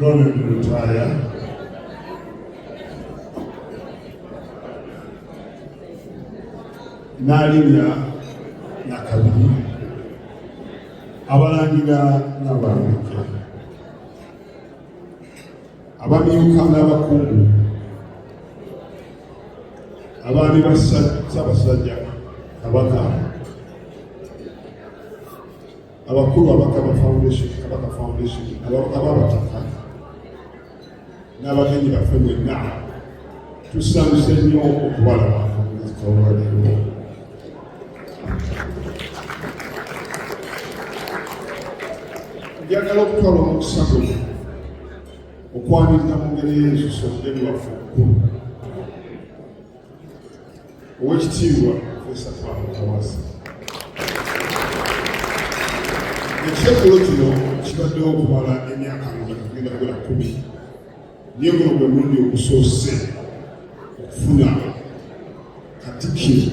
Ronald Lutaya n'alinnya nakabiri abalangira n'abalambika abamyuka n'abakungu abaami ba Ssaabasajja Kabaka abakulu abakaba foundation kabaka foundation ababataka n'abagenyi baffe mwenna tusanyuse nnyo okubalaba olwaleero njagala okutwala omukisa guno okwanirira mu ngeri y'ensuso eri waffe okukulu owekitiibwa profesa paul kawasa ekisekolo kino kibaddewo okumala emyaka nga kugenda kola kumi naye guno gwe mulundi ogusoose okufuna katikiro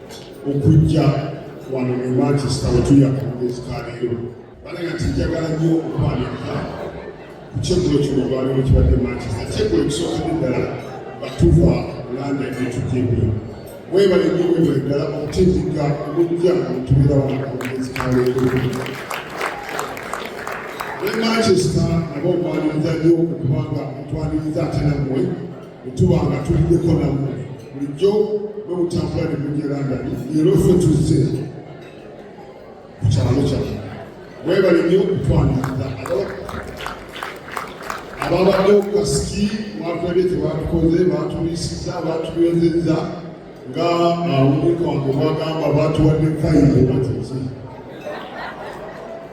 okujja wano mu manchester wetuli akamugeezi ka leero balaga nti njagala nnyo okwaniriza ku kyeggulo kino olwaleero kibadde manchester kyeggulo ekisookadde ddala batuva landa netujja embiro mwebale nnyo mwebale ddala okutindigga omujja omutubeera wano akamugeezi ka leero ne manchester nabo mwaniriza nnyo okubanga mutwaniriza ate nammwe Tuba nga tuliddeko nammwe bulijjo bwe mutambula ne mugera nga leero ffe tuzze ku kyalo kyaffe. Mwebale nnyo okutwaniriza ababadde ku kasiki mwatwede tebatukoze batubisiza batubenzeza nga awunika wange mwagamba batuwadde fayiro bateze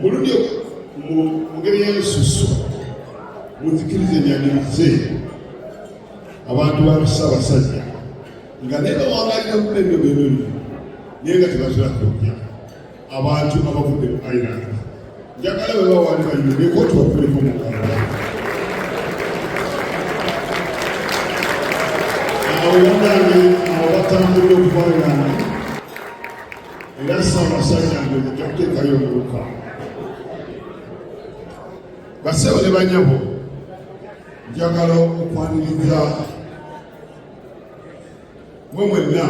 muludde mu ngeri y'ensusu muzikiriza enyanirize abantu ba Ssaabasajja nga naye bawangalira mu ebyo byebyo naye nga tebatera kujja abantu abavudde mu Ireland njagala bwe bawaali bayimbe koti bakuleko mu Kampala awo yonange awo batambulira okuva Ireland era ssaabasajja nge mujja kuteekayo omuluka basebo ne banyabo njagala okwaniriza mwe mwenna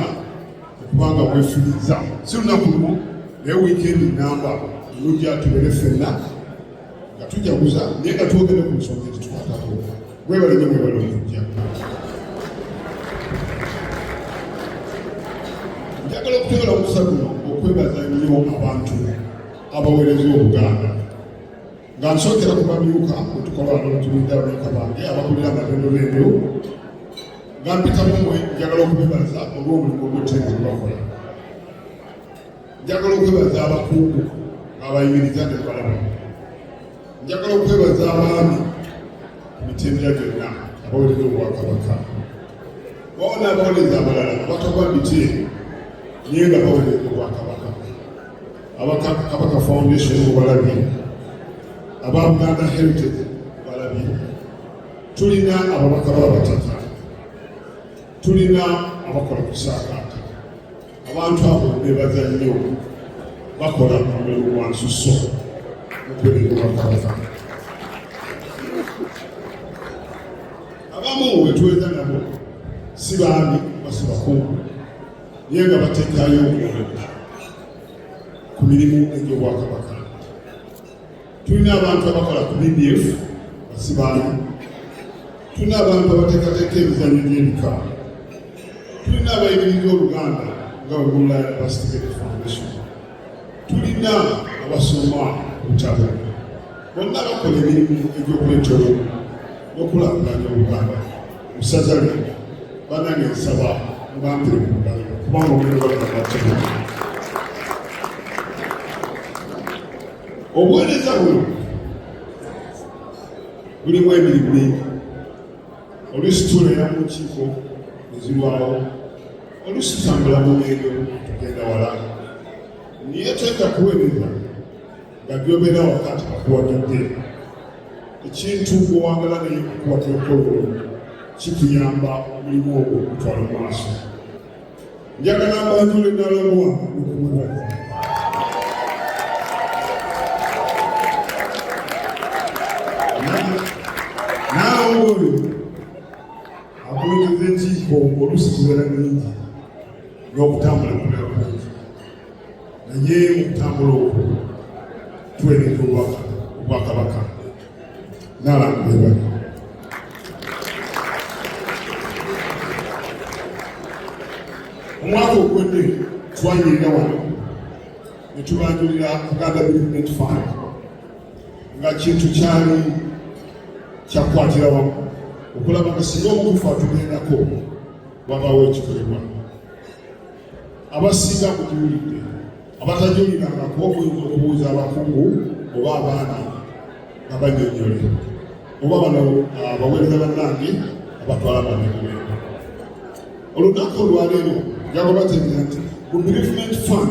okubanga mwefiriza si lunaku lumu naye wiikendi namba olujja tubere fenna nga tujaguza naye nga twogere ku nsonga ezitukwatako mwebale nyo mwebale okujja njagala okutegala omusa guno okwebaza nnyo abantu abawereza obuganda nga nsokera ku bamyuka otukola notulinda abamyuka bange abakulira amalendo lendo nga mpitamu mwe njagala okubebaza olw'omulimu ogwetteeka gwebakola njagala okwebaza abakungu abayimiriza ne balaba njagala okwebaza abaami ku mitendera gyonna abawulira obwakabaka waona abawuliriza abalala abatogwa biti naye nga bawulira obwakabaka abakabaka foundation obalabye aba buganda heritage obalabye tulina ababaka babatata tulina abakola kusaakaata abantu abo nebaza nnyo bakola omulimu gwa nsuso mukwebingobakolaa abamu wetweza nabo si baami basi bakungu naye nga batekayo omwoyo ku mirimu egy'obwakabaka tulina abantu abakola ku BBF basibaana, tulina abantu abateekateeka emizanyo gy'ebika, tulina abayigiriza Oluganda nga Bugula University Foundation, tulina abasoma obutabo, bonna bakola emirimu egy'okuleetera n'okulaakulanya Oluganda musaza lyo banange nsaba mubampire ku mugalo kubanga omuliro balina obuweereza buno bulimu emirimu mingi oluusi tuulera mu nkiiko ezirwawo oluusi tutambula mu ngendo tugenda wala naye tenda kuweereza nga byobeera wakati akuwagidde ekintu gwewangala naye okukwata ekkololo kituyamba omulimu ogwo okutwala mu maaso njagala mbanjule nalomwa okumuwa naalongo oyo akulembeza enkiiko oluusi kibeera nyingi n'okutambula kubeera kungi naye mukutambula okwo tuweereza obwakabaka omwaka oguwedde twanyirira wano ne tubanjulira Uganda Development Fund nga kintu kyali kyakukwatira wamu okulaba nga singa omukufa atugendako wabaawo ekikolebwa abasinga kugiwulidde abatagiwulirangako oyinza okubuuza abakugu oba abaana nga banyonyole oba bano ah, baweereza bannange abatwala banakubeera olunaku olwaleero jagobategeera nti ku bereavement fund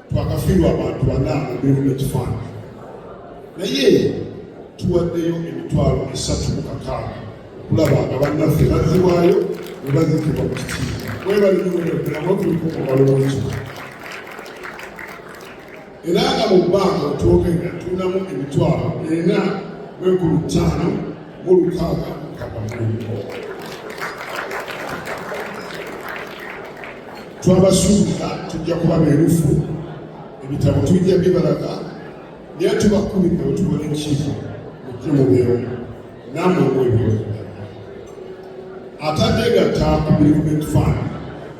twakafiirwa abantu bana mubirimu nekifaananyi naye tuwaddeyo emitwalo esatu mu kakaaga okulaba nga bannaffe bazzibwayo ne bazikibwa mu kitiibwa webalimuweeaokulikumubalowoki era nga mu bbanga otwogenda tunamu emitwalo ena mwekulu ttaano mu lukaaga kakamu Twabasuubira tujja kuba beerufu, ebitabo tujja bibalaga, naye tubakubidde bwe tubona enkiiko mujje mubeewo namwe mwebyoza atadde gatta ku bereavement fund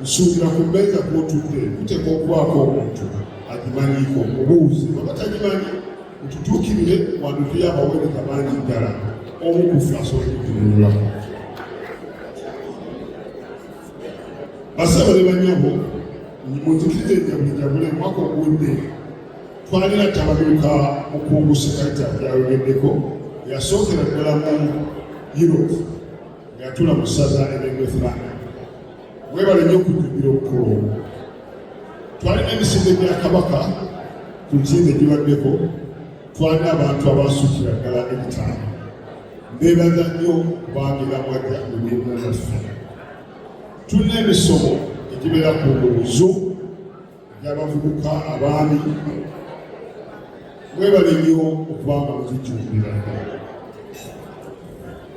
nsuubira ku mmeeza kwotudde kuteeka okubaako omuntu agimanyiiko obuuzi babatagimanyi mututuukirire wandutuyo abaweereza bangi ddala omu kufe asobola okutunulako basabo ne banyabo munzikirize njabujabule mwaka ogudde twanira tabaduka mukungu sekaita yayogeddeko yasookera ddala mu europe ngeyatula mu ssaza eryengwethland webale nyo okujjumbira obukulu obwo twalina emisinde gya kabaka ku nsimbe gibaddeko twalina abantu abasukira ddala ebitaano Mbeebaza nnyo okwangira mwajja mu mirimu gyaffe. Tulina emisomo egibeera ku nguuzo gy'abavubuka abaami mwebale nnyo okuba nga muzijjumbira.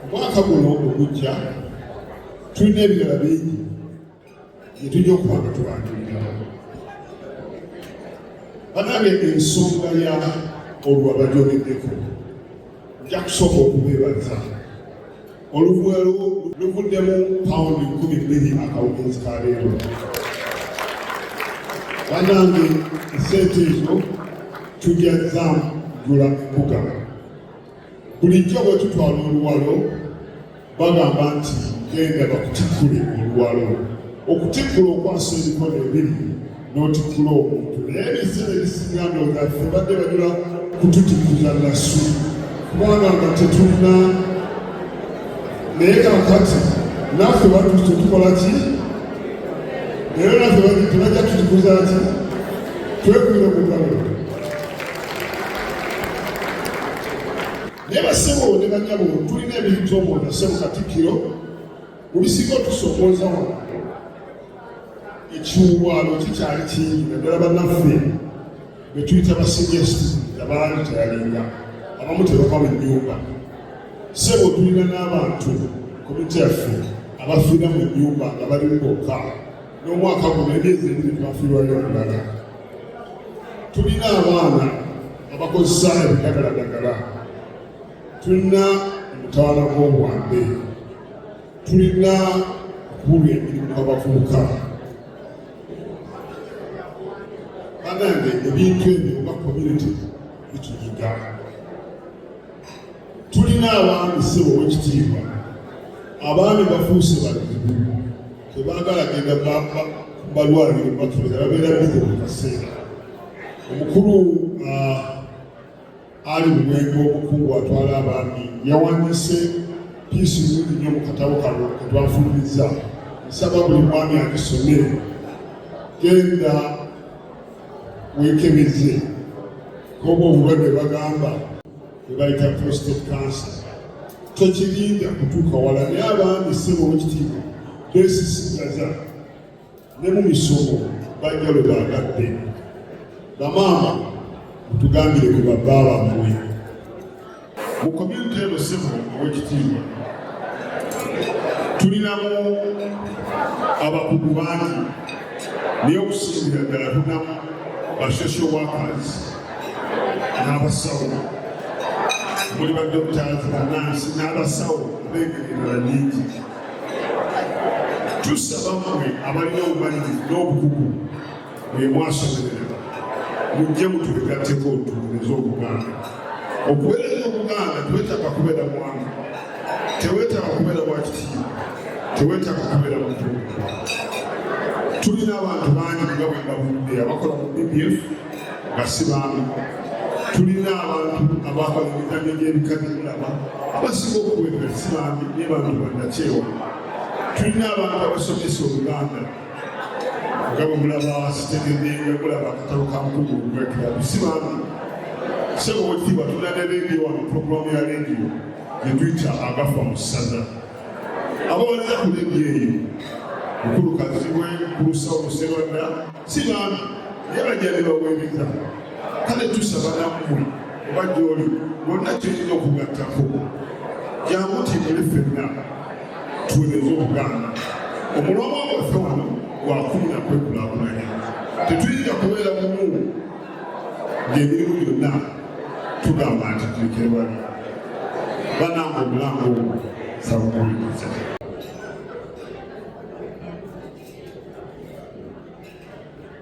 Omwaka guno ogujja tulina ebirala bingi yetujja okuba nga tubanjulira banange ensonga ya olwa bajogeddeko nja kusooka okubeebaza oluvwe luvuddemu pawundi nkumi bbiri akawungeezi ka leero banange esente ezo tujja zamugula mbuga bulijjo bwe tutwala oluwalo bagamba nti genda bakutikkule oluwalo okutikkula okwasa emikono ebiri n'otikkula omuntu naye ebiseera ebisinga ndowooza ffe badde bajula kututikuza nasu kubanga nga tetulina naye kakati naffe batuuse tukola ki naye naffe tebajja tutikuza ki twekubira mugalo naye basebo ne banyabo tulina ebintu omwo nasebo katikkiro mubisinga otusokooza wano ekiwuwaalo kikyali kingi naddala bannaffe betuyita basigesti abaali teyalinga abamu tebava mu nyumba sebo tulina n'abantu komite yaffe abafiira mu nyumba nga balimu bokka n'omwaka guno emyezi ebiri twafiirwayo omulala tulina abaana abakozesa ebidagaladagala tulina omutawana gw'obwambe tulina okubulwa emirimu abavubuka banange ebintu ebyo oba community bituyiga tulina abaami sebo owekitiibwa abaami bafuuse balimu tebaagala genda bamba balwaliro batumira babeera bize mu kaseera omukulu ah, ali mu mwenge omukungu atwala abaami yawanise piisi nungi nnyo mu katabo kano ketwafulumizza nsaba buli mwami agisome genda wekebeze koba obulwadde bagamba ebayita prostate cancer tekirinda kutuuka wala naye abaami sebo wekitiibwa besisigaza ne mu misomo bajja lwe baagadde bamaama mutugambire ku babba bammwe mu komyuniti eno sebo owekitiibwa tulinamu abakugu bangi naye okusingira ddala tunamu ba social workers n'abasawo muli ba doctors banansi n'abasawo ab'engeri endala nyingi tusaba mmwe abalina obumalirivu n'obukugu bwe mwasomerera mujje mutulegatteko tuwulirize obuganda okuweereza obuganda twetaka kubeera mwana tewetaka kubeera wakitiibwa tewetaka kubeera mutuuka tulina abantu bangi nga bwe babudde abakola mu bbf nga si baami tulina abantu abakola emikano gy'ebika by'endaba abasinga okuwebwa si baami naye bantu bannakyewa tulina abantu abasomesa oluganda nga bwe mulaba sitegedde nga mulaba akatabo ka mukulu ogwekirabu si baami sebo wekitiibwa tulina ne leediyo wano puroguramu ya leediyo gye tuyita agafa mu ssaza abawereza ku leediyo eyo mukulu kazibwe kulusa omuserwadda si baami naye bajjali bawebita kale tusaba nammwe oba gyoli bonna kyeyina okugattako jamutimule fenna tuwereze obuganda omulongo gwaffe wano gwakumira kwekulakulanya tetuyinza kubeera mumu ngemirimu gyonna tugamba nti tulikerewali bananga omulango ogwo sabukuliza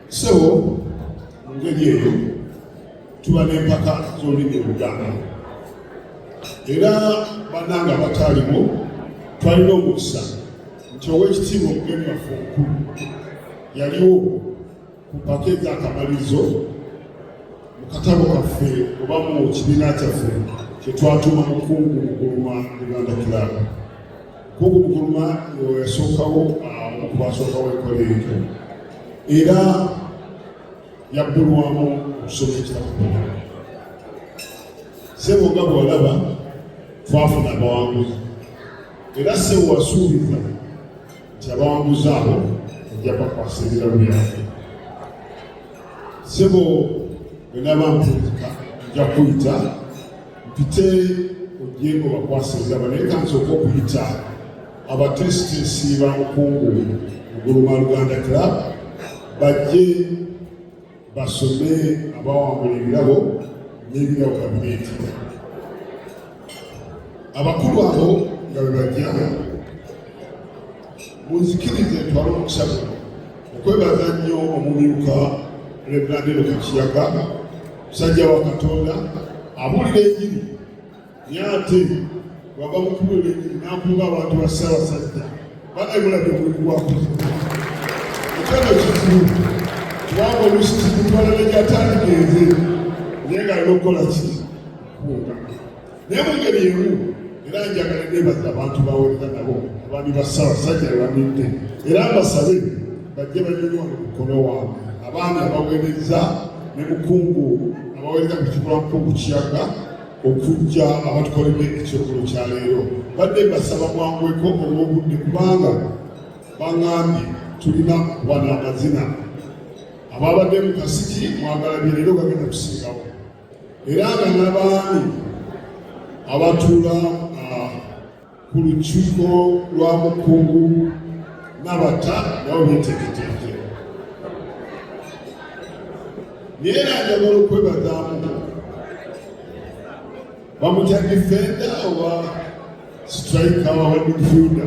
so mu ngeri eyo tuba n'empaka z'olulimi oluganda era bannange abataalimu twalina omukisa nti ow'ekitiibwa omugeni waffe omukulu yaliwo ku mpaka ez'akamalirizo mu katabo kaffe oba mu kibiina kyaffe kyetwatuuma mukungu muguluma uganda club Kuku Mukuluma yasookawo okubasookawo ekola ekyo era yabbulwamu okusoma ekitabo sebo nga bwalaba twafuna abawanguzi era sebo wasuubiza nti abawanguzi abo ojja bakwasa ebirabo byabwe sebo wenaba mpulika nja kuyita mpite ogyeko bakwasa egaba naye kansooka okuyita abateesiteesi ba mukungu oguluma luganda club bajje basome abawangula ebirabo n'ebirabo kabineeti abakulu abo nga bebajja munzikirize ntwala omukisa guno okwebaza nnyo omumyuka reverandino kakiyaga musajja wa katonda abuulira enjiri naye ate wava mu kubuulira enjiri n'akuba abantu ba ssaabasajja banaibulabye okulikuwakuza ekyano kizibu kubanga olusi kitwala negyatandika enze naye nga alina okukola ki kuwungana naye mu ngeri emu era njagala nebaza abantu bawerera nabo abaami ba ssabasajja abamidde era mbasabe bajje banyonyi wano mukono waabwe abaami abawereza ne mukungu abawereza ku kikula mukungu kiyaga okujja abatukolebwa ekyokolo kya leero badde basaba mwangweko olwobudde kubanga bangambye tulina okuba n'amazina ababadde mu kasiki mwagala bye leero bagenda kusingawo era nga n'abaami abatuula ah, ku lukiiko lwa mukungu nabata nabo betegeteeke naye era njagala okwebazaamu bamutya difenda oba sitrika wa midfielda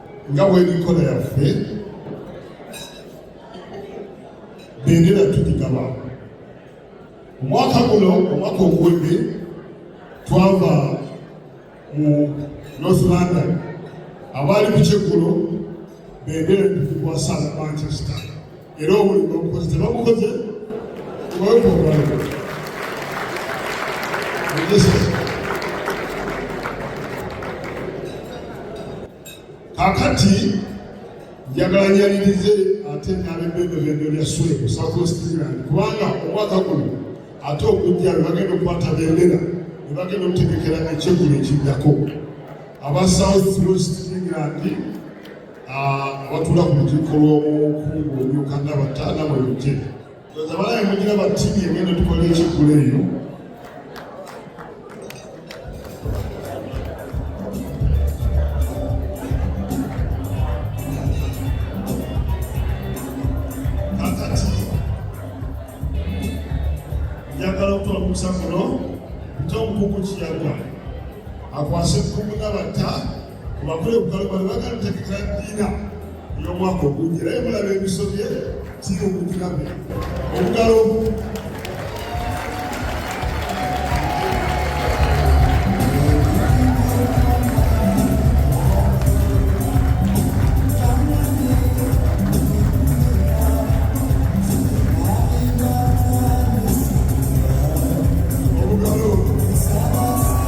nga bw'enkola yaffe bendera tugigaba omwaka guno omwaka oguwedde twava mu north london abaali ku kyeggulo bendera tuzikwasa manchester era obuli bamukoze tebamukoze tebakoa kakati njagala nyalirize ate nalebendobendo lya swebu sakostirani kubanga omwaka guno ate okujja webagenda okukwata bendera webagenda okutegekera ekyegulo ekiddako aba south west england abatula ku lukiiko lw'omukungu omyuka nga bataana bwe lujje oza balabe mugira batini egenda tukola ekigula eyo njagala okutola omukusa kuno nti omukuku kiyagwa akwase ekkumu nabata Kubakole kukalo bano bagala tekeka dina y'omwaka ogujja naye mulaba ebisobye kiri okugirabe obugalo